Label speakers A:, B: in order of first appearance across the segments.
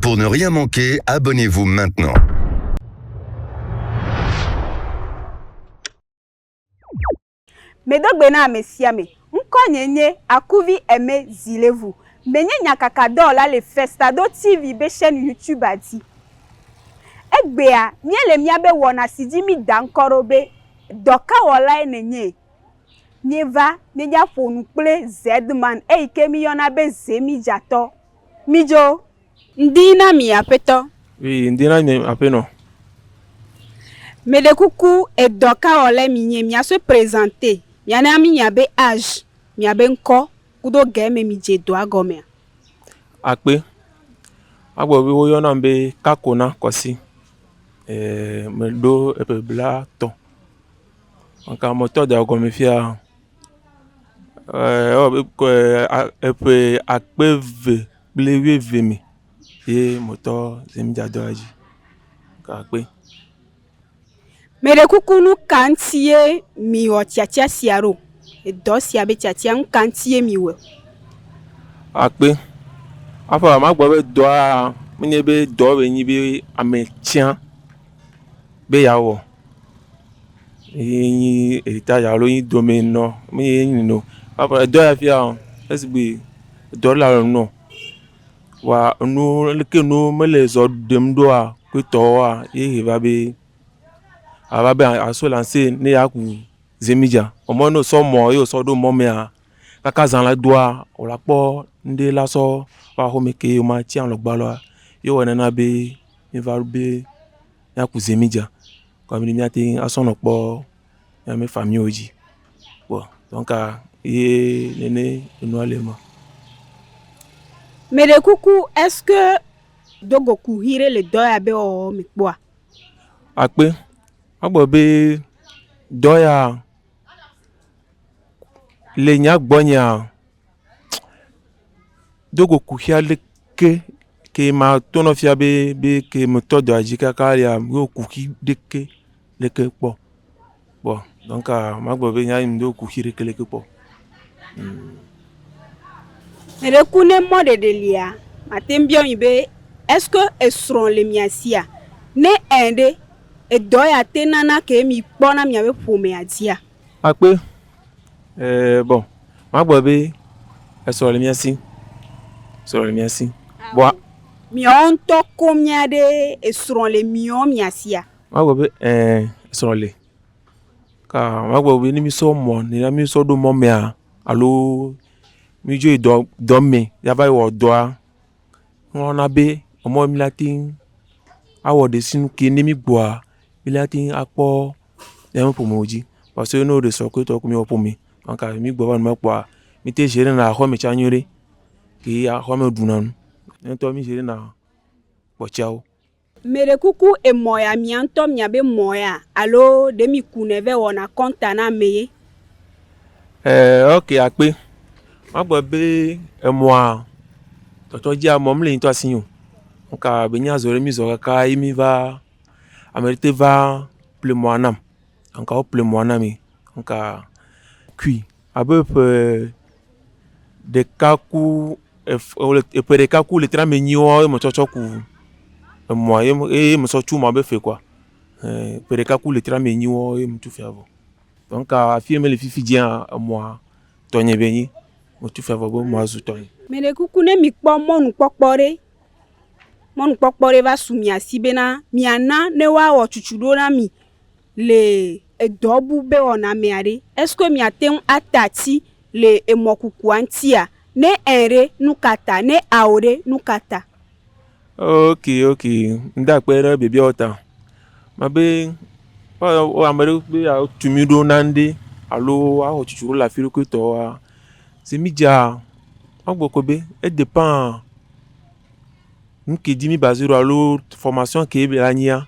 A: Pour ne rien manquer, abonnez-vous maintenant.
B: Medo gbe na ame sia ame. Ŋkɔnye nye Akuvi Aimé Zilevou. Menye nyakakadɔwɔla le Festador TV be chaîne YouTube-a dzi. Egbea, míele míabe wɔna si dzi mída ŋkɔ ɖo be Dɔkawɔlae nènye. Míeva míedza ƒo nu kple Zedman eyike míyɔna be Zemidzatɔ. Mídzo. Ŋdi na mi Aƒetɔ. Wi, ŋdi na mi
C: Aƒenɔ. Meɖe
B: kuku e dɔkawɔlae minye miasoe presenter miana mi miabe age, miabe ŋkɔ kudo ge me midze dɔa gɔmea? Akpe.
C: Agbɔ be woyɔnam be Kakona Kɔsi. meɖo eƒe blatɔ. Meka motɔ da ɖe gɔme fia ewɔ abe eƒe akpe eve kple wuieve me ye motɔ si mi dza dɔ ɖe edzi ka kpe.
B: Meɖe kuku nu ka ŋuti ye miwɔ tsitsia sia ɖo? Edɔ sia be tiatia nu ka ŋutie miwɔ?
C: Akpe. Aƒe ame agblɔ be dɔa menye be dɔ wɔe nyi be ame tia be yeawɔ ye nyi eritaya alo ye nyi domenɔ meye enyi nɛ o. Aƒe edɔ ya fia esi gbe edɔ le alɔ nɔ wa enuwo leke nuwo mele zɔ ɖem ɖoa kpɔtɔa ye va be ava be aso lanse ne yeaku. Zi mi dza ɔ mɔ no sɔ mɔ yo sɔ ɖo mɔ mɛ a kaka zan la doa o la kpɔ ŋɖe la sɔ wa axomɛ ke yo ma ci alɔgba lɔa yo wɔ nɛna be mi va be mia ku zi mi dza kɔ mi mia teŋ asɔ nɔ kpɔ mia me fa mio dzi kpɔ dɔnka ye nɛnɛ enua le ma.
B: Mɛɖe kuku eske dogo kuxi ɖe le dɔ ya be ɔ mi kpɔa. Akpe
C: Egblɔ be, Dɔ ya le nya gbɔnyea, do go kuxi aɖeke ke mato nɔ fia be be ke metɔ dɔa dzi kaka ya do kuxi ɖeke ɖeke kpɔ. Kpɔ donka magblɔ be nya yi medo kuxi ɖeke ɖeke kpɔ o.
B: Eɖe ku ne mɔ ɖeɖe lia, mate ŋu biɔ mi be, Est-ce que esrɔ̃ le mia sia? Ne ẽ ɖe, edɔ ya te nana ke mi kpɔ na miaƒe ƒomea dzia? Akpe,
C: Ee, bɔ magblɔ be esrɔ̃ le mia si. Esrɔ̃ le mia si. Bɔ. Miawo ŋutɔ
B: ko mia ɖe esrɔ̃ le miɔ mia sia? Magblɔ be, Ee,
C: esrɔ̃ le. ka magblɔ be ne mísɔ mɔ ne ya mísɔ ɖo mɔ mea alo mídzo yi dɔ dɔ me yava yi wɔ dɔa nana be emɔ yi míate ŋu awɔ ɖesinu ke ne mígbɔa míate ŋu akpɔ míaƒe ƒome dzi parce ne wole sɔkuitɔ ku míaƒe ƒome donk ne mígbɔ va nane kpɔa míte ʒiere na aƒeme tsa nyuie ɖe ye aƒeme ɖuna nu. Míawo ŋutɔ mí ʒiere na kpɔtɔawo. Meɖe kuku
B: emɔ ya mia ŋutɔ mia be mɔ ya alo ɖe mi ku nɛ vɛ wɔna kɔnta na ame ye. Eeh ok
C: akpe. Magbe be emɔa tɔtɔ dzi amɔ mle ŋutɔ asi o. Ŋka be nyi azɔ ɖe mi zɔ kaka yi mi va ame ɖe te va ple mɔa nam. Ŋka wo ple mɔa na mi. Ŋka kui. Abe ƒe ɖeka ku ef e le ƒe ɖeka ku litri ame enyi woa ye metsɔ tsɔ ku emɔa ye me eye metsɔ tsu emɔa be fli kɔa e ƒe ɖeka ku litri ame enyi woa ye metu fia vɔ. Donc afi yi mele fifi dzia emɔa tɔnye be nyi metu fia vɔ be emɔa zu tɔnye. Mɛɖekuku ne mikpɔ
B: mɔnukpɔkpɔ ɖe, mɔnukpɔkpɔ ɖe va su mia si bena miana ne woawɔ tsutsu ɖo na mi. le edɔ bu be wɔna mea ɖe, eskoe mìate ŋu ate ati le emɔkukua ŋutia? Ne ẽ ɖe, nu ka ta? Ne ao ɖe, nu ka ta? Ok, ok,
C: ŋde akpe ɖe biabiawo ta. Mebe woawɔ ame ɖe be yeatu mí ɖo na ŋɖe alo woawɔ tsitsi ɖo le afi ɖokui tɔ oa, zi mí dzea, magblɔ kɔ be edepend nuke dzi mí baze ɖo alo fɔmasiɔn ke be la nyia.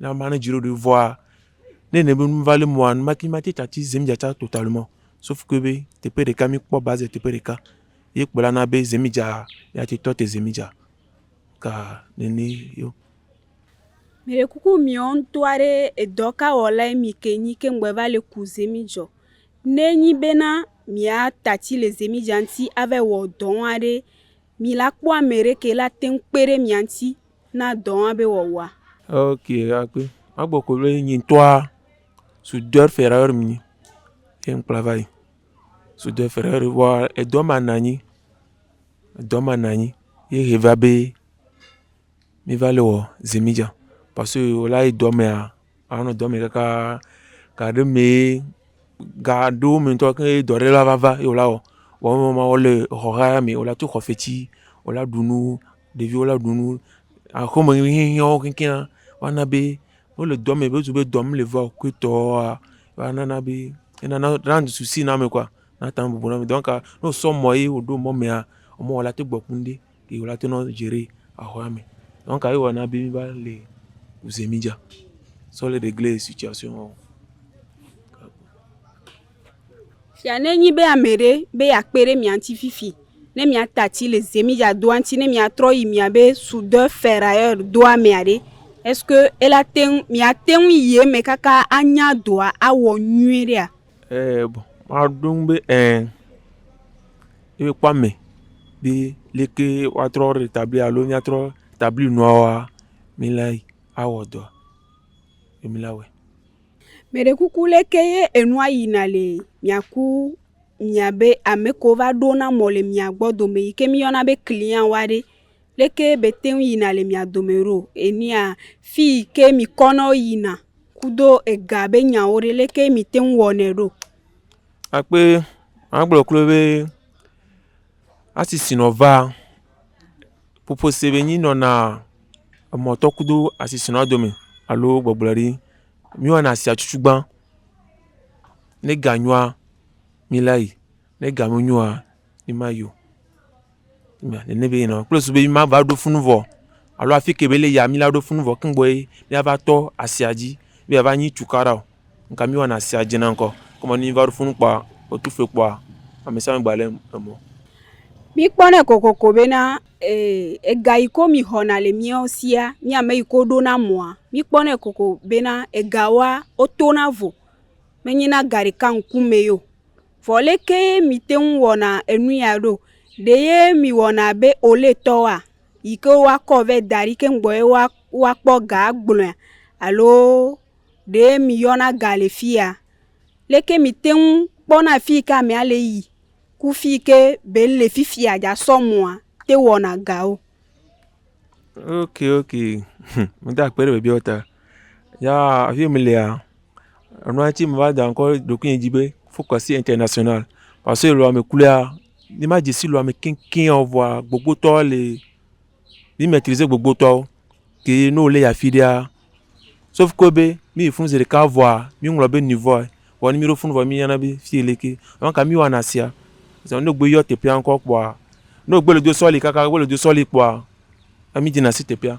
C: na ma ne dzro ɖe vɔa ne ne be nu va le mɔa nu mati mati tati zem dzatsa total mɔ sof ke be teƒe ɖeka mi kpɔ baze teƒe ɖeka ye kplɔla na be zemi dza ya te tɔ te zemi dza ka nene yo.
B: Mire kuku miɔ ŋutɔ aɖe edɔ ka wɔlae mi ke nyi ke ŋgbe va le ku zemi dzɔ ne nyi be na mia tati le zemi dza ŋuti ava wɔ dɔ ŋua ɖe mi la kpɔ ame ɖe ke la teŋ kpe ɖe mia ŋuti na dɔ ma be wɔwɔa. Ok, akpe.
C: Magbɔ ko be nyi ŋutɔa soudeur ferreur menye ye ŋkpla va yi. Soudeur ferreur vɔa edɔ ma nɔ anyi, edɔ ma nɔ anyi ye he va be meva le wɔ zimidza parce que wòla yi dɔ mea. anɔ dɔ me kaka ga ɖe mee ga ɖewo me ŋutɔ ke dɔ ɖe la va va ye wòla wɔ. Vɔ eme wɔ ma wɔ le exɔ gã ya me wòla to xɔ fetsi wòla ɖu nu ɖeviwo la ɖu nu aƒeme nuhiahiãwo keŋkeŋa va na be wole dɔ me be wozu be dɔ mele va o kuitɔa va nana be enana rand susu na ame kɔa nate ŋu abubu na ame. Donka ne wosɔ mɔ ye woɖo mɔ mea emɔ wɔ la te gbɔ ku ŋɖe. Yi wòla to nɔ Jerry ahɔa me. Nɔn ka yi wɔ na bi mi ba le uze mi ja. Sɔ le de gle si tsia si wɔ.
B: Fia ne nyi be ame ɖe be ya kpe ɖe mia ŋuti fifi ne mia ta tsi le ze mi ja doa ŋuti ne mia trɔ yi mia be sudɔ fɛrayɔ doa mea ɖe. Eske ela teŋ mia teŋ yi eme kaka anya doa awɔ nyuie ɖea. Eee,
C: maɖo eŋu be eee, ye mekpɔ ame be leke woatrɔ retabli alo míatrɔ tabli nuawoa, míla yi awɔ dɔa, ye míla wɔe. Mɛɖekuku
B: leke ye enua yina le mìaku mìabe ame kewo va ɖona mɔ le mìa gbɔ dome yi ke mìyɔna be clientwoa ɖe? Leke be te ŋu yina le mia dome ɖo? Enea fi yi ke mi kɔ nɔ yina kudo ega be nyawo ɖe leke mi te ŋu wɔnɛ ɖo? Akpe
C: ma gblɔ klo be asisi nɔ va ƒoƒo se be nyi nɔna emɔ tɔ kudo asisi nɔ dome alo gbɔgblɔ ɖi. Mi wɔna asia tsutsu gba ne ga nyɔa mi la yi ne ga me nyoa. mi ma yo mɛ nene be nɔ kple susu ma va ɖo funu vɔ alo afi ke be le ya mi la ɖo funu vɔ keŋgbɔ ye mia va tɔ asia dzi be ya va nyi tukaɖa o ŋka mi wɔna asia dze na ŋkɔ kɔmɔ ne mi va ɖo funu kpɔa otu fue kpɔa amesiame gba le emɔ. Míkpɔnɛ
B: kokoko bena e, ega yi ko mixɔna le míawo sia, mí ame yi ko ɖona mɔa, míkpɔnɛ kokoko bena egawoa, wotona vo. Menyina ga ɖeka ŋkumɛ ye o. Vɔ leke ye mìte ŋu wɔna enu ya ɖo? Ɖe ye mìwɔna abe Oletɔwoa yi ke woakɔ vɛ da ɖi keŋ gbɔ ye woa woakpɔ ga agblɔe alo ɖe mìyɔna ga le fiya? Leke mìte ŋu kpɔna afi yi ke amea le yi ku fi yi ke be ele fifiaa yeasɔ mɔa te wɔna gawo? Ok ok
C: hm meda akpe ɖe biabia ta. Ya afi yi mlea. Enua tsi meva da ŋkɔ ɖe ɖokuinye dzi be focus international parce que le wòa me kura ne ma dze si le wòa me keŋkeŋ o vɔa gbogbotɔwo li. Mi maitrise gbogbotɔwo keye ne wole yi afi ɖea sauf que be ne yi funu zeɖeka vɔa mi ŋlɔ be niveaua. Vɔ ne mi ɖo funu vɔ mi nya na be fiyi leke. Donc ka mi wɔna sia? Zã ne egbe yɔ teƒea ŋkɔ kpɔa ne egbe le do sɔli kaka egbe le do sɔli kpɔa mi dzena si teƒea.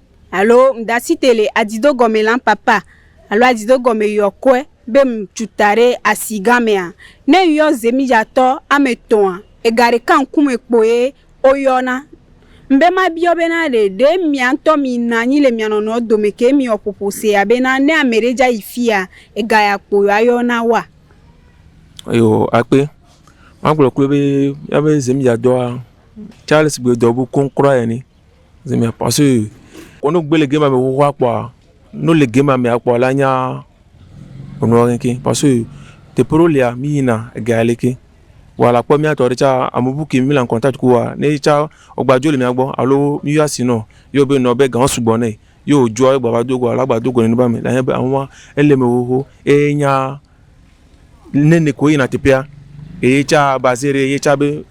B: Alo mdasite le adido gɔme la papa alo adido gɔme yɔkɔe be mcuta ɖe asi gã mea? Ne ŋyɔ zemidzatɔ ame etɔ̃a, ega ɖeka ŋkume kpoe woyɔna. Mbe mabiɔ bena ɖe, ɖe mia ŋtɔ mina anyi le mia nɔnɔewo dome ke miwɔ ƒoƒo sea bena ne ame ɖe dza yi fia, ega ya kpo ye woayɔ na woa? Eyo
C: akpe. Magblɔ kloe be, miabe zemidzadɔa, Charles gbe dɔ bu koŋ kura ene. Zi me pase kɔnu gbe le game amee xoxoa kpɔa, ne wole game amea kpɔa la nya nua keŋkeŋ pase teƒe ɖewo lia mi yina ega ya li ke. Vɔa la kpɔ mía tɔ ɖe tsa ame bu ke mi le kɔntat ku woa ne yetsa wogba dzo le mía gbɔ alo mi yɔ asi nɔ yɔ be nɔ be ga wo sugbɔ nɛ. Ye wodzoa ye gbava do goa la gba do go nɛ be ame la nye be ahuwa ele me xoxo eye nya. ne ne ko yina teƒea eye tsa baze ɖe ye tsa be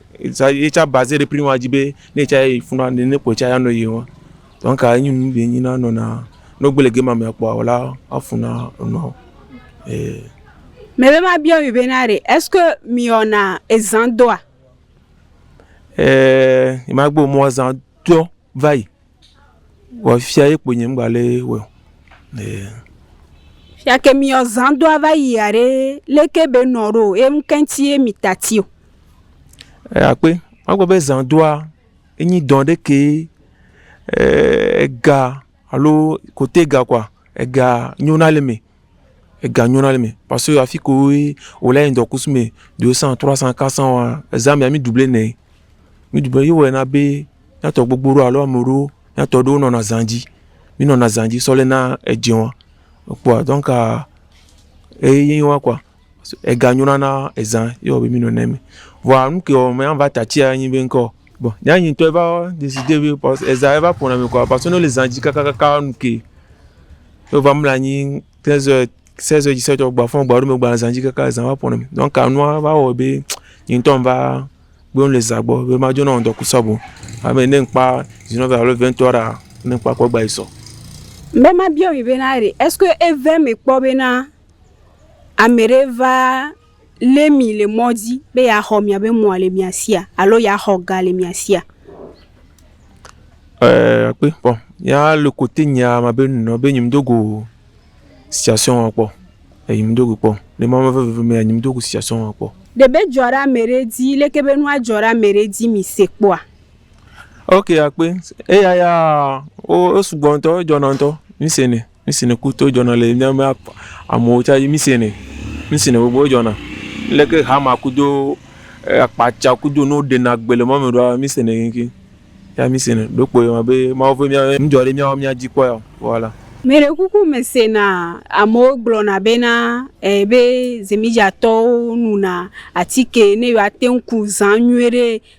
C: ye tsa baze ɖe prima dzi be ne tsa yi funa ne ne kpɔtsa ya nɔ yi wa donc enyi nu be enyi na nɔna ne wogbe le gema mea kpɔa wòla afuna nɔ e.
B: Mɛ be ma biɔ mi be na ɖe est-ce que mi wɔna ezan dɔa? E
C: ma gbe mɔ ezan dɔ va yi. Vɔ fia ye kponye ŋgba lé wɔ.
B: Fia ke mi ɔzan do ava yi aɖe leke be nɔ ɖo ye ŋkɛnti ye mi tati o.
C: E akpe magbe be zan doa enyi dɔ ɖe ke ega alo kote ga kɔa ega nyona le me. ega nyɔna le me parce que afi ko ye wòle yi ŋdɔkusu me do san trois san quatre san wa eza mea mi dubler nɛ mi dubler ye wɔe na be miatɔ gbogbo ɖo alo ame ɖewo miatɔ ɖewo nɔna zã dzi mi nɔna zã dzi sɔ lena edze wa ekpɔa donc eye wa kɔa. Ega nyona na ezã ye wɔbe mi nɔ nɛ me. Vɔa nu ke wɔ me ava ta tsia anyi be ŋkɔ. Bon, nya nyi tɔ eva deside be pas ezã eva ƒona me kɔa pas ne le zã dzi kakakaka nu ke. Ye va mla anyi te zɔɛ se zɔɛ dzi se tɔ gba fɔn gba ɖo me gba zã dzi kaka ezã va ƒona me. Donc anua va wɔ be nye ŋtɔ ŋva gbewo le zã gbɔ be ma dzona ŋdɔ kusɔ bo. Abe ne ŋkpa zinɔ vɛ alo vɛntɔ ɖa ne ŋkpa kɔ gba yi sɔ. Be ma
B: biɔ mi be na ɖe eske eve me kpɔ be na. ame ɖe va lé mi le mɔ dzi be yeaxɔ miaƒe mɔ le mia sia alo yeaxɔ ga le mia sia.
C: Ɛɛ, akpe kpɔ. Ya le kote nya ma be nɔ be nyim dogo situation wa kpɔ. E nyim dogo kpɔ. Le ma veve veve me nyim dogo situation wa kpɔ. Ɖe be dzɔ ɖe ame
B: ɖe dzi leke be nua dzɔ ɖe ame ɖe dzi mi se kpɔa?
C: Ok akpe. Eya ya o o sugbɔ ŋtɔ, edzɔna ŋtɔ. Mi se nɛ. Nu si nèku to dzɔna le na be amewo tsa dzi misenɛ. Nu si nègbe kpɔ dzɔna. Leke hama kudo akpatsa kudo nuwo ɖena gbe le mɔme ɖoa misenɛ keŋkeŋ. Ya misenɛ. Ɖeko ewɔ abe Mawu ƒe mía nu dzɔ ɖe mía ŋu mía dzi kpɔ ya o voila. Mɛɖekuku
B: mesena amewo gblɔna bena e be Zemidzatɔwo nuna atike ne yewoate ŋu ku zã nyuiɖe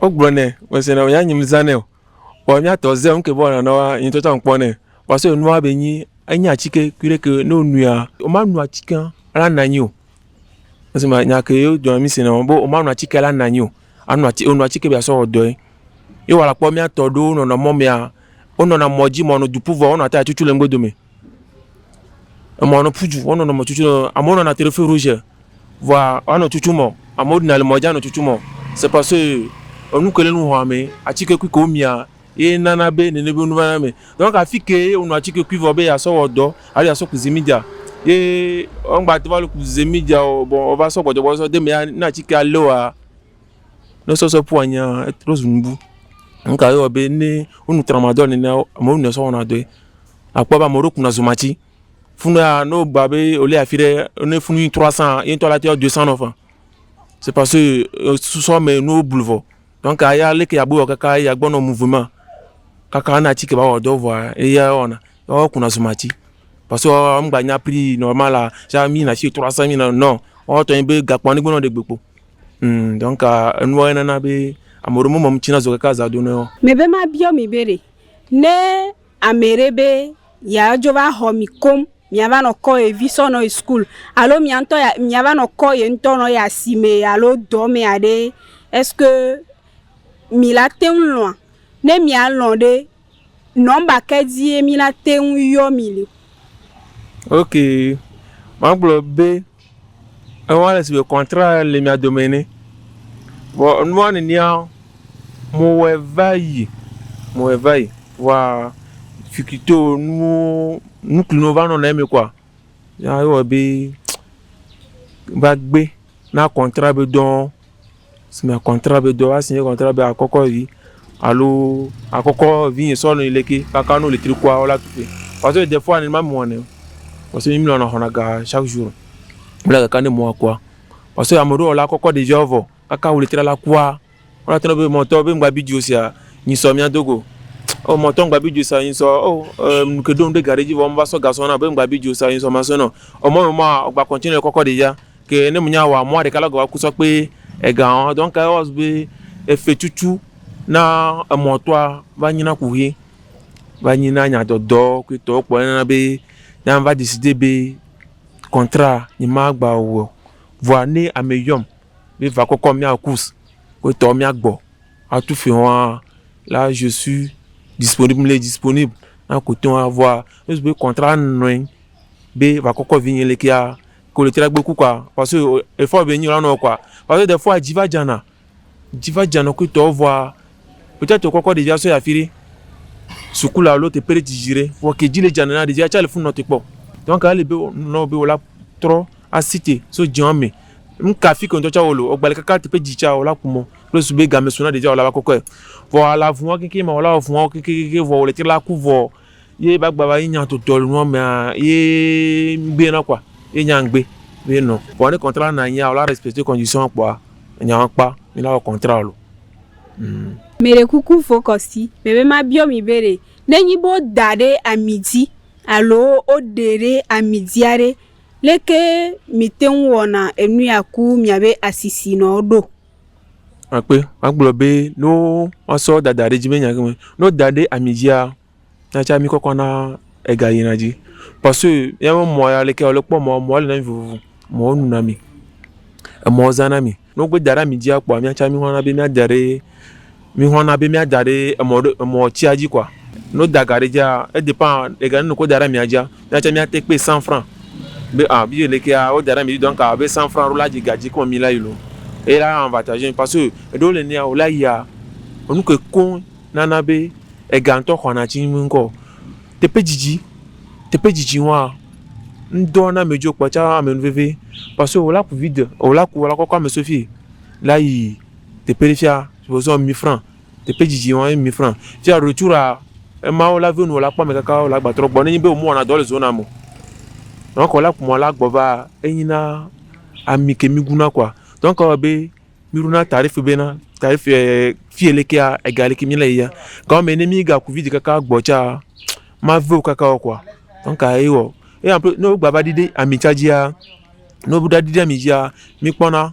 C: Wogblɔ nɛ, mese nɔ ya nyim zã nɛ o. Vɔ mía tɔ zé ŋke bɔ nanɔ wa nyi tsɔtsɔ ŋkpɔ nɛ. Vɔ so enua be nyi enyi atsike kuɖe ke no nuia, o ma nu atsikea la na nyi o. Ese ma nya ke yo dɔ mi se nɔ be o ma nu atsike la na nyi o. A nu atsi o nu atsike be asɔ wɔ dɔɛ. Ye wa la kpɔ mía tɔ ɖewo nɔnɔ mɔ mea, o nɔna mɔ dzi mɔ no duku vɔ o nɔ ate atsutsu le ŋgbe dome. Emɔ nɔ ƒudzu wo nɔnɔ me tutu amewo nɔna te ɖe fero dzi vɔa anɔ tutu mɔ amewo ɖina le mɔ dzi anɔ tutu mɔ se pas ke enu ke le nu hɔa mɛ atike kui ke wo mia ye nana be nene be nu vana eme. Donc afi ke ye wonɔ atike kui vɔ be yeasɔ wɔ dɔ alo yeasɔ ku zimidzea ye ŋgba te va lo ku zimidzea o vɔ eva sɔ gbɔdzɔgbɔ eva sɔ de eme ya ne atikea le woa ne sɔsɔ ƒu anyia etrɔ zu nubu. Nuka ye wɔ be ne wonu tramadol nenea amewo nɔe sɔ wɔna dɔe. Àkpɔ be ame aɖewo kuna zumati. Funu ya, ne wogba be wòli afi ɖe, ne funu yi trɔ asã, ye ŋutɔ la te adoe sã nɔ ƒã. C'est parce que euh, susɔ me nuwo blu vɔ. Donc ya leke agbe wɔ kaka eya gbɔ nɔ muve ma. Kaka ne atike va wɔ dɔ vɔa, eya wɔna. Ya wo kuna zumati. Parce que woa wo ŋgba nya prix normal a, tsã mí yina afi trɔ asã mí yina non. Woawo tɔ nyi be gakpoa ne gbe nɔ ɖe gbe kpo. Hum donc enua ye nana be ame aɖewo me me ŋuti na zɔ kaka azã do na wo. Mebe mabiɔ mi
B: be ɖe, ne ameɖe be yeadzo va xɔ mi koŋ miava nɔ kɔ ye vi sɔ nɔ yi sukulu alo mia ŋutɔ ya miava nɔ kɔ ye ŋutɔ nɔ yi asime alo dɔ me aɖe ɛske mi la teŋ lɔ̃a? Ne mialɔ̃ ɖe nɔmba ka dzie mi la teŋ yɔ mi le? Ok
C: magblɔ be. Ewa le si be kɔntra le mia dome ene. Vɔ nua nenea mewɔe va yi, mewɔe va yi. Vɔa fukito nuwo nukunu va nɔna eme kɔa ya ewɔ be va gbe na kɔntra be dɔ̃. si me kɔntrat be dɔ woasi kɔntrat be akɔkɔ vi alo akɔkɔ vi sɔ nɔ le ke kaka no le tri kua wala tuƒe parce que des fois ne ma mɔ ne parce que mi lɔna xɔna ga chaque jour wala kaka ne mɔa kua parce que ame ɖewo la kɔkɔ ɖevia wo vɔ kaka wole tra la kua wala trɔ be mɔtɔ be ŋgba bi dzo sia nyi sɔ mia do go o mɔtɔ ŋgba bi dzo sia nyi sɔ o e nu ke ɖom ɖe gaɖi dzi vɔ meva sɔ gasɔ na be ŋgba bi dzo sia nyi sɔ masɔ nɔ emɔ me ma ŋgba kɔntine kɔkɔ ɖevia Ke ne menya wa mɔa ɖeka lɔ gɔwa kusɔ kpe ega ɔ, dɔn ka wa zube efe cucu na emɔ tɔa va nyina kuhe va nyina nya dɔdɔ kui tɔ kpɔ nana be nya va disi de be kɔntra ni ma gba wɔ. Vɔa ne ame yɔm be va kɔkɔ mia kus kui tɔ mia gbɔ a tu fe hɔa la ʒesu disponib mle disponib na ku tɔa vɔa ezu be kɔntra nɔɛ be va kɔkɔ vi nyɛ le kia. ko le tira gbe ku kɔa parce que efɔ be nyɔla nɔ kɔa parce que efɔa dzi va dzana dzi va dzana ku tɔ vɔa peut-être o kɔkɔ ɖevia sɔ yi afi ɖe suku la alo teƒe ɖe dzidzi ɖe vɔ ke dzi le dzana na ɖevia tsa le funu nɔ te kpɔ donc ele be nɔ be wola trɔ asi te so dziwa me nu ka fi ke ŋdɔ tsa wolo egba le kaka teƒe dzi tsa wola ku mɔ kple su be game so na ɖevia wola va kɔkɔe vɔ ala vuwa kekeŋ ma wola vuwa kekekekeŋ vɔ wole te la ku vɔ Ye ba gba ba yi nya to tol nua mea ye ngbe na kwa ye nya ngbe ye no. Vɔ ne kɔntra na nya wla respecte kɔndisiɔn kpɔa enya wa kpa mi na wɔ kɔntra lo. Hmm. Me
B: ɖe kuku fokɔsi me be ma biɔ mi be ɖe ne nyi be wo da ɖe ami dzi alo wo ɖe ɖe ami dzia ɖe leke mi teŋ wɔna enu ya ku mia be asisi nɔ ɖo? akpe
C: magblɔ be ne woasɔ dada ɖe edzi be nya gɔme ne woda ɖe ami dzia natsi ami kɔkɔ na ega yina dzi parce que míaƒe mɔ ya leke wòle kpɔ mɔ mɔ li na mí vovovo mɔ nu na mi emɔ zã na mi ne wogbe da ɖe ami dzia kpɔa míatsi ami hã na be míada ɖe. Mixɔ na be mia da ɖe emɔ ɖe emɔ tsia dzi kɔa? No da ga ɖe dzia e depend le ga nunu ko da ɖe mia dzia mia tsa mia te kpe cent franc be a bi le kea wo da ɖe mi donc a be cent franc ɖo la dzi ga dzi kɔn mi la yi lo e la an vatage mi parce que eɖewo le nea wo la yia enu ke koŋ na na be ega ŋtɔ xɔ na tsi mi ŋkɔ teƒe dzidzi teƒe dzidzi ŋua ŋdɔ na me dzo kpɔ tsa ame nu veve parce que wo la ku vide o la ku wo la kɔkɔ ame so fie la yi. Tepe ɖe fia vozɔ mi fran. Tepe dzidzi wɔn ye mi fran. Fia ɖo tsu ɖa ema wo la venu wo la kpɔ amekaka wo la gba trɔ gbɔ ne nyi be wo mu wɔna dɔ le zo na mo. Nɔn kɔ la ku mɔ la gbɔ va enyi na ami ke mi gu na kɔa dɔn kɔ be mi ɖo na tarifi be na tarifi fi ele kea ega ele ke mi le yia. Gɔn me ne mi ga ku vidi kaka gbɔ tsa ma veo kaka wo kɔa dɔn ka ye wɔ. Eya ƒe ne wo gba va ɖiɖe ami tsa dzia ne wo ɖa ɖiɖe ami dzia mi kpɔ na.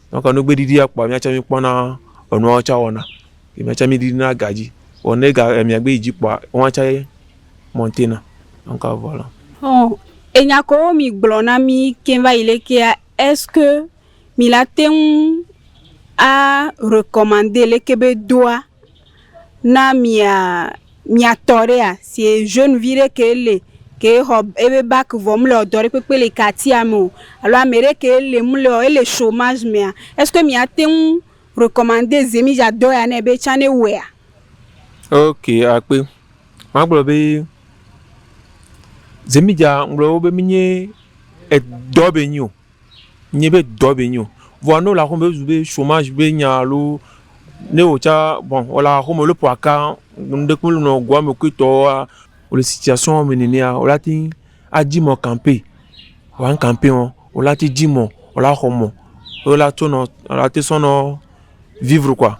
C: Nɔ ka nugbe ɖiɖi akpɔa miatsɛ mi kpɔna enuawo tsɛ wɔna. Yi miatsɛ mi ɖiɖi na ga dzi. Vɔ ne ga mia gbe yi dzi kpɔa ewa tsɛ mɔntena. Nɔ ka vɔ lɔ. Ɔ,
B: enya kewo mi gblɔ na mi keŋ va yi le kea, est-ce que mi la teŋ a recommande leke be doa? na mia mia tɔ ɖea si jaune vi ɖe ke li ke xɔ ebe bak vɔ mele dɔ ɖe kpekpe le katia me o alo ame ɖe ke li mele ɔ ele chomage mea est-ce que miate ŋu recommande zemi dɔ ya nɛ be tsã ne wɔea. Ok
C: akpe magblɔ be zemi dza ŋgblɔ wo be mi nye edɔ be nyi o. Nye be dɔ be nyo. Vɔa ne wole aƒeme be zu be chomage be nya alo ne wò tsã bon wole aƒeme wole ƒo aka ŋɖe kple nɔ goa me kui tɔwoa, wole situation me nenea wole ateŋ adzi mɔ campaign. Vɔa ŋ campaign ɔ, wole ateŋ dzi mɔ wole axɔ mɔ ye wole atsɔ nɔ wole ateŋ sɔ nɔ vivre koa.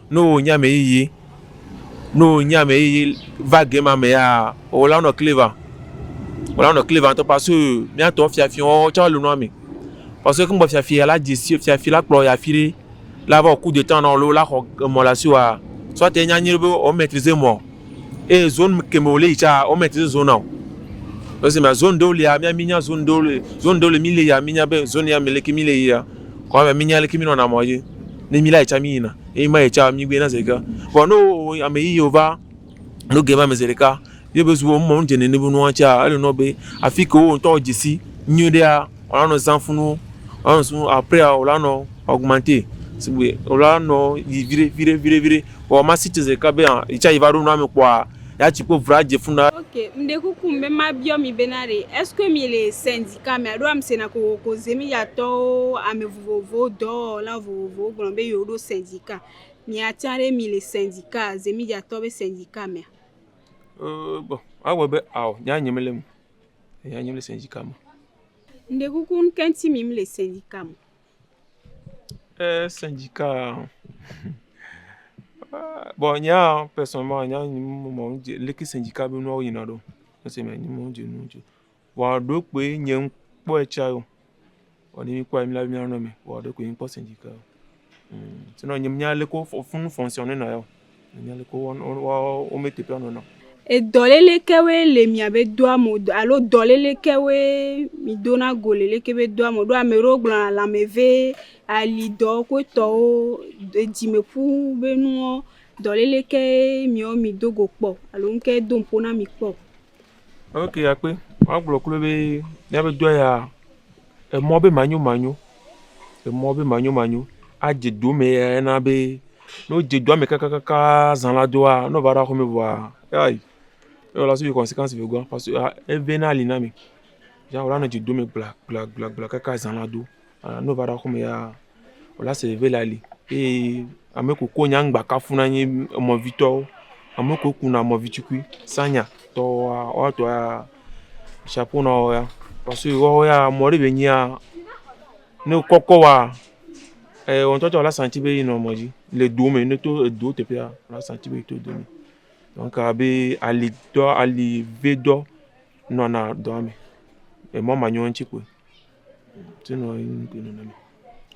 C: Ne wò nye ame yiyi, ne wò nye ame yiyi va game ma mea, wò la wonɔ clever, wò la wonɔ clever ŋutɔ parce que míatɔ fiafi wɔwɔ tsɛ le nua me. Parce que egbe fiafia la dze si fiafi la kplɔ yia fi ɖe la va wɔ coup de temps nɔ alo la xɔ emɔ le asiwòa, soit enye anyi be o maitriser emɔ eye zone ke me wòle yi tsɛa o maitriser zone nao. Esi me zone ɖewo lia mía mí nya zone ɖewo le zone ɖewo le mí le yia mí nya be zone ya me leke mí le yia. Kɔ be mínya leke mínɔna mɔ dzi ne mílé ayi tsa míyina eye mayi tsa mígbee na zeɖeka. Vɔ ne wowɔ ame yiyi wova ɖo ge ma me zeɖeka ye be zu wɔm mɔ ŋudze nɛ ne be nua tsaa, ele nɔ be afi ke wò ŋutɔ wò dze si nyuiɖea wolanɔ zã funu wolanɔ zã funu après a wolanɔ augmenter sigbe wolanɔ yi viɖe viɖe viɖe viɖe. Vɔ masi tse zeɖeka be aa yitsa yi va ɖo nua me kpɔa yea tsi kple ŋu adze funu ɖaa. Ok, meɖe kuku
B: be mabiɔ mi bena ɖe est ce que mi le sɛndi. Ke ame aɖewo ame sena kokoko zemiyatɔwo, ame vovovowo, dɔwɔla vovovowo gblɔ be yewoɖo sɛndika. Mìatsa ɖe mì le sɛndika, zemiyatɔwo be sɛndika mea? Eee
C: bon, ewɔ abe ao nyea nye mele eme o. Nyea nye mele sɛndika me o. Ŋɖekuku
B: ŋke ŋti mì mle sɛndika me o? Eee
C: sɛndikaa hum eee bon nyea pɛsɔnɛlman nyea nye me mɔ ŋje leke sɛndika be nuawo yina ɖo o. Mese be nye me ŋje nuwo dzi o. Vɔa ɖokoe nye ŋkpɔɛ tsa yo. Vɔ ne mi kpɔɛ mi la be mi anɔ me. Vɔa ɖokoe ŋkpɔ sindika yo. Tse nɔ nye nya leke wo funu fɔnsiɔn ne nɔ ya o. Nya leke wo wo me teƒe anɔ na. Edɔ lele
B: kewoe le mia be do ame o alo dɔ lele kewoe mi do na go le leke be do ame o. Ɖo ame ɖewo gblɔ na lãme ve, ali dɔ ku etɔwo, edzime ƒu be nuwo. Dɔ lele ke miwo mi do go kpɔ alo ŋke do ŋpo na mi kpɔ. Ok
C: akpe, magblɔ kloe be míaƒe dɔ ya, emɔ be manyomanyo, emɔ be manyomanyo adze do me ya na be ne wodze doa me kakaka zã la doa ne wova ɖo aƒeme vɔa kai ela sufi consequence le egbɔ parce que evana li na mi. Yea wòanɔ dze do me gblagblagbla kaka zã la do. Ne wova ɖe aƒeme ya, wòle ase veve le ali eye ame kewo kɔ nyaŋ gba kafu na nye emɔvitɔwo. Ame kewo kuna emɔvitukui, sanya tɔ woa, woa tɔ ya shapo na wo ya. Parce que woawo ya mɔ ɖe be nyi ya ne wokɔkɔ woa, eye wò ŋutɔ tsɛ wòla santi be yinɔ mɔ dzi le do me. Ne eto edo teƒea, wòla santi be yeto do me. Donc abe alitɔ, alivedɔ nɔna dɔa me le mɔ manyiwo ŋuti kpoe.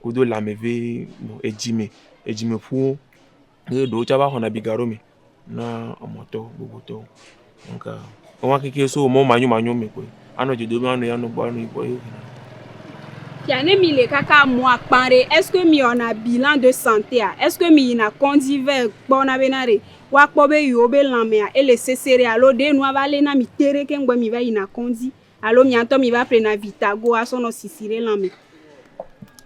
C: Wodo lame ʋe nɔ edzime, edzimeƒuwo eye ɖewo tsɛ va xɔna biga ɖo me na emɔtɔwo, gbogbotɔwo. Donc, woawo kekeɛ so mɔ̃ manyomanyo me koe. Anɔ dze dom anɔ yi anɔ gbɔ anɔ yi gbɔ ye wonɔ.
B: Fia ne mile kaka mɔ̃a kpã ɖe, ɛske miwɔna bilan de santea? Ɛske miyina kɔndzi vɛ kpɔna bena ɖe woakpɔ be yewo be lãmea ele sese ɖe alo ɖe nua va lé na mi teɖe keŋ be miva yina kɔndzi? Alo miatɔ mi va ƒle na vi ta go a sɔ nɔ sisi ɖe lã me.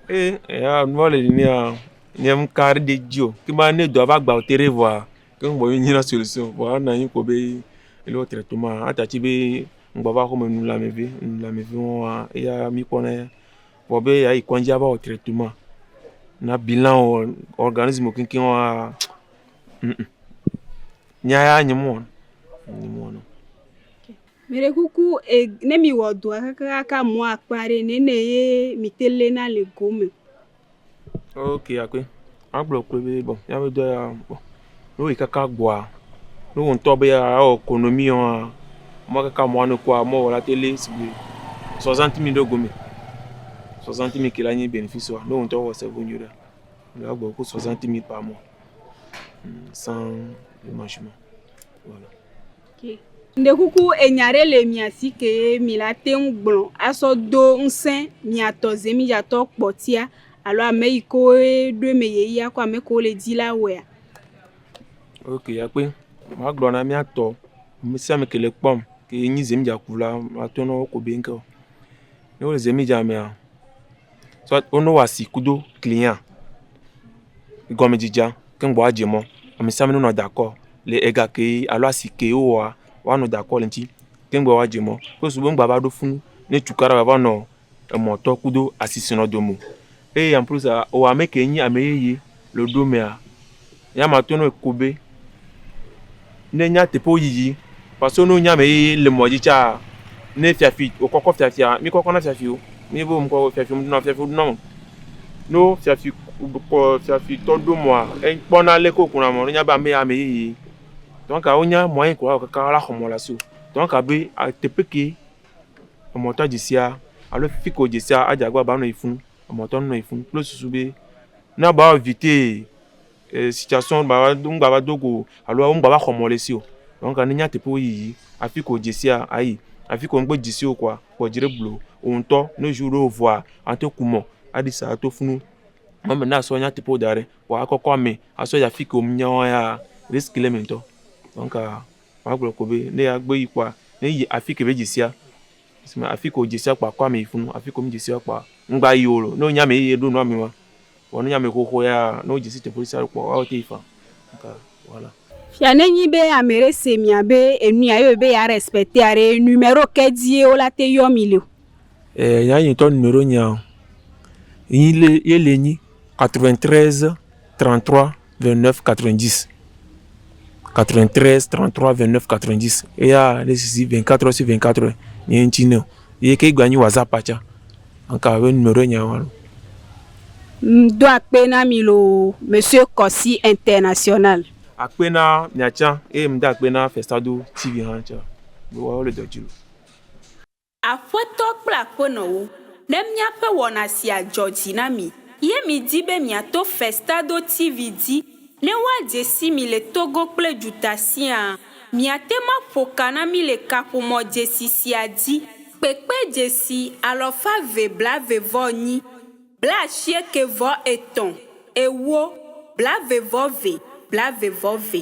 B: E eya
C: nua le nea nye m ka ɖe dzi o. Ke ma ne dɔa va gba o te ɖe vɔa ke ŋgbɔ ye nyina solution vɔa na nyi kpɔ be ele wo tre to ma ata tsi be ŋgba va xɔ me nu lãme ve nu lãme ve wɔa eya mi kpɔ na ya. Vɔ be ya yi kɔŋdzi a va wɔ tre to ma na bi lã o organism keŋkeŋ wɔa ŋm nya ya nye me wɔna nye me wɔna o.
B: Meɖe kuku e ne mewɔ dɔa kakaa mɔa kpa ɖe nɛnɛ ye mete le na le go me.
C: Ok akpe. Agblɔ kpe be bɔn ya be dɔa bɔn ne woyi kaka gbɔa ne wo ŋutɔ be awɔ konomi wɔa mɔ kaka mɔa ne kɔa mɔ wɔla te le sigbe sɔzanti mi ɖe gome. Sɔzanti mi ke la nyi benefisi wa ne wo ŋutɔ wɔ se bu nyi ɖe. Mɖe agblɔ ku sɔzanti mi kpa mɔ. San mashuma. Voilà.
B: Ŋɖekuku enya ɖe le mia si ke ye mi la te ŋu gblɔ asɔ do ŋsẽ mia tɔ zemidzatɔ kpɔtia alo ame yi ke woe ɖo eme ye ya ku ame yi ke wole di la wɔea?
C: Ok akpe, magblɔ na mia tɔ ame sia ame ke le kpɔm ke ye nyi zemidzakula, mato na wo ko be ŋke o. Ne wole zemidzamea. So wo no wa si kudo client gɔme dzedzea ke gbɔ adze mɔ ami sa mi nɔnɔ da kɔ le ega ke alo asi ke wowoa woanɔ da kɔ le eŋuti ke gbɔ adze mɔ wo sugbɔ ŋgba va ɖo fu ne tukaɖa va va nɔ emɔtɔ kudo asi si nɔ dome o eye en plus aa wɔ ame ke nyi ame yeye le wo ɖo mea. Eya ma to nɔe ko be ne nyateƒewo yiyi kpaso no nya me ye le mɔdzi tsa ne fiafi o kɔkɔ fiafia mi kɔkɔ na fiafi o mi bo mi kɔkɔ fiafi o na fiafi o na no fiafi kɔ fiafi tɔ do mɔa e kpɔ na le ko kuna mɔ ne nya be ame ya ame ye ye tɔn ka o nya mɔ ye ko wa kaka wa la xɔ mɔ la so tɔn ka be a teƒe ke emɔ tɔn dzi sia alo fi ko dzi sia a dza gba ba nɔ yi funu emɔ tɔn nɔ yi funu kple susu be na ba wɔ vite. situation ŋgbava do go o alo womegbava xɔ mɔ ɖe si o. Donc ne nya teƒe yiyi afi ke wodze sia ayi. Afi ke womegbe dze si o kɔa, kpɔ dzi ɖe gblɔ wò ŋutɔ. Ne jour ɖe wovɔa, ato ku mɔ aɖi sa ato ƒu nu. Mɔ me na sɔ nya teƒewo da ɖɛ kpɔ akɔkɔ ame asɔ yi afi ke womenya wo ya risk le eme ŋutɔ. Donc magblɔ kɔ be ne agbe yi kpɔa ne yi afi ke be dze sia. Esime afi ko dze sia kpɔa, kɔ ame yi funu, afi ko medze sia kpɔa, ŋgba yi o. Ne wonye ame yeye ɖo nua mi ma, vɔ ne wonye ame xoxo ya, ne wodze si teƒe sia ɖo kpɔa, woawo te yi faa. Eka wala. Fia ne nyi be
B: ameɖe se mia be enu ya yɔe be ya respectea ɖe, numero ke dzie wo la te yɔ mi le o. Eh nya yi
C: ŋtɔ numero nyea, nyi le, ye le nyi 93 33. 29 90 93 33 29 90 eya ne sisi 24 heures sur 24 heures nye ŋuti ne o ye ke gba nyi whatsapp atsa anka abe nume ɖo nya wa ŋdo
B: akpe na mi loo monsieur Kɔsi international. Akpe na
C: mia tsa eye ŋdo akpe na Festado TV hã tsa be woawo le dɔ dzi loo.
B: Aƒetɔ kple aƒenɔwo, ne míaƒe wɔna sia dzɔ dzi na mi ye miedi be miato Festado TV dzi ne woadze si mi le Togo kple duta siaa, miate ŋu aƒo ka na mí le kaƒomɔ dzesi sia dzi. Kpekpe dzesi alɔfa eve blaeve vɔ nyi, blaasieke vɔ etɔ̃, ewo, blaeve vɔ ve, blaeve vɔ ve.